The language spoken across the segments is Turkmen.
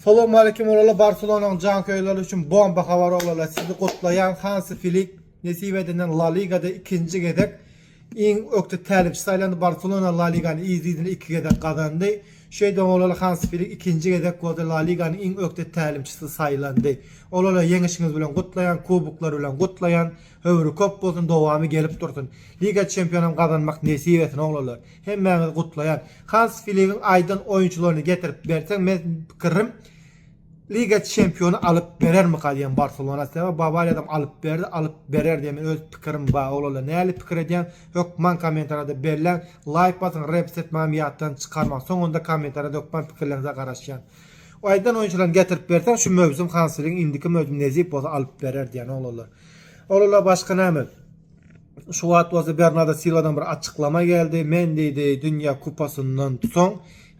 Salowmalikim Olala Barselonaň janköýerleri üçin bomba habar Olala sizi gutlaýan Hansi Filik nesip edilen La Ligada ikinji gezek iň ökde tälimçi saýlandy Barselona La Ligany yz-yzyna iki gezek gazandy şeýdibem Olala Hansi Filik ikinji gezek boldy La Ligany iň ökde tälimçisi saýlandy Olala ýeňişiňiz bilen gutlaýan kuboklar bilen gutlaýan Ömri köp bolsun dowamy gelip dursun. Liga çempionam gazanmak nesip etsin oglanlar. Hemmäňizi gutlaýan. Hans Filigiň aýdan oýunçylaryny getirip berseň men pikirim Liga çempiony alyp berermika diýen Barselona sebäbi Bawariýadam alyp berdi alyp berer diýen men öz pikirim bar oglanlar näli pikir edýän hökman kommentariýada belläň laýk basyň reps etmegem ýatdan çykarmaň soňunda kommentariýada hökman pikirleriňize garaşýan aýdan oýunçylaryny getirip berseň şu möwsüm Hans Filigiň indiki möwsüm nezip bolsa alyp berer diýen oglanlar. Ol-la başga näme? Şu wagt bolsa Bernardo Silwadan bir açyklama geldi. Men diýdi, Dünýä kupasyndan soň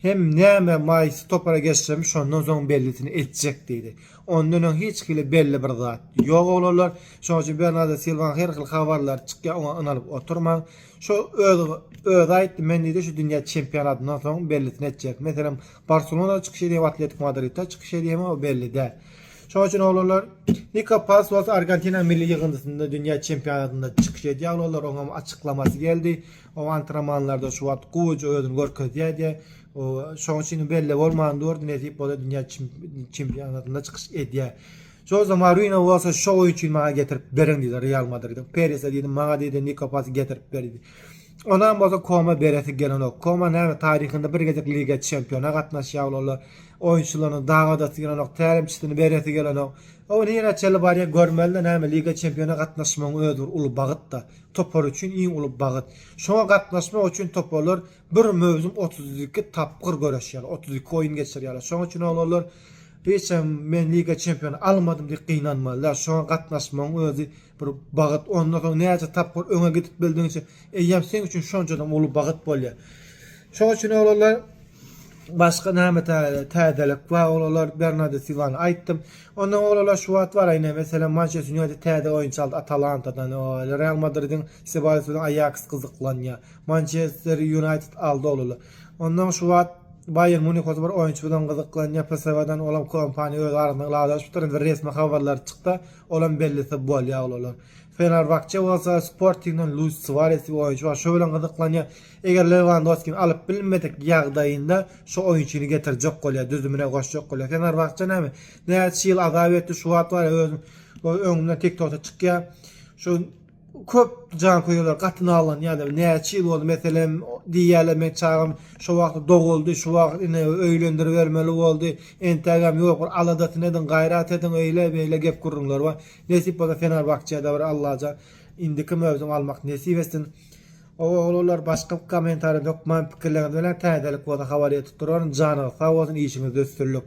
hem näme maýsy topara geçsem, şondan soň bellisini etjek diýdi. Ondan öň hiç hili belli bir zat ýok oglanlar. Şonuň üçin Bernardo Silwanyň her hili habarlary çykýar, oňa ynalyp oturmaň. Şo öz özi aýtdy, men diýdi, şu dünýä çempionatyndan soň bellisini etjek. Meselem, Barselonada çykyş edýär, Atletiko Madridde çykyş edýärmi, o belli däl. Şonuň üçin oglanlar Niko Pasos Argentina milli ýygyndysynda dünýä çempionatynda çykyş edýär oglanlar. Oňam açyklamasy geldi. O antrenmanlarda şu wagt gowuja özüni görkezýär diýe. Şonuň üçin belli bolman durdy nesip bolsa dünýä çempionatynda çykyş edýär. Jose Mourinho bolsa şu oýun üçin maňa getirip beriň diýdi Real Madridiň. Perise diýdi maňa diýdi Niko Pasy getirip ber diýdi. Onam bolsa Koma beresi gelenok. Koma näme taryhynda bir gezek liga çempiona gatnaşýar oglanlar. Oýunçylarynyň dagadasy gelenok, tälimçisini beresi gelenok. Ol nirä çenli barýar görmeli-de näme Liga Çempiona gatnaşmagyň özi bir uly bagyt-da. Topar üçin iň uly bagyt. Şoňa gatnaşmak üçin toparlar bir möwsüm otuz iki tapgyr göreşýärler, otuz iki oýun geçirýärler. Şonuň üçin oglanlar hiç hem men Liga Çempiona almadym diýip gynanmaly däl. Şoňa gatnaşmagyň özi Bir bagt ondan soň näçe tapgyr öňe gidip bildigiňçe eýýäm seň üçin şonçadam uly bagt bolýar. Şoň üçin oglanlar başga näme täzelik bar oglanlar Bernardo Silwany aýtdym. Ondan oglanlar şu wagt bar ine meselem Mançester United täze oýunçy aldy Atalantadan, Real Madridiň Sebaýos bilen Aýaks gyzyklanýar. Mançester United aldy oglanlar. Ondan şu wagt Baýern Munih bolsa bir oýunçy bilen gyzyklanýar PSW-dan olam kompaniýa öz arasynda ylalaşypdyr indi resmi habarlar çykda. Olam bellese bolýa ol olar. Fenerbahçe bolsa Sportingden Luis Suarez diýip oýunçy bar. Şo bilen gyzyklanýa. Eger Lewandowskini alyp bilmedik ýagdaýynda şo oýunçyny getirjek bolýa, düzümine goşjak bolýa. Fenerbahçe näme? Näçe ýyl azap etdi, şu wagt bar ýa özüm öňümden TikTokda çykýa. Şu köp janköýerler gaty nalanýarlar. Näçe ýyl boldy, meselem, diýýärler, meň çagam şo wagt doguldy, şu wagt ine öýlendiribermeli boldy, entägem ýok, bir aladasyny ediň, gaýrat ediň, öýle-beýle gep-gürrüňler bar. Nesip bolsa Fenerbahçe-de bir Allajan indiki möwsüm almak nesip etsin. Ogullar başga kommentariýa hökman pikirleriňiz bilen täzelik bolsa habar etip duraryn. Janyňyz sag bolsun, işiňizde üstünlik.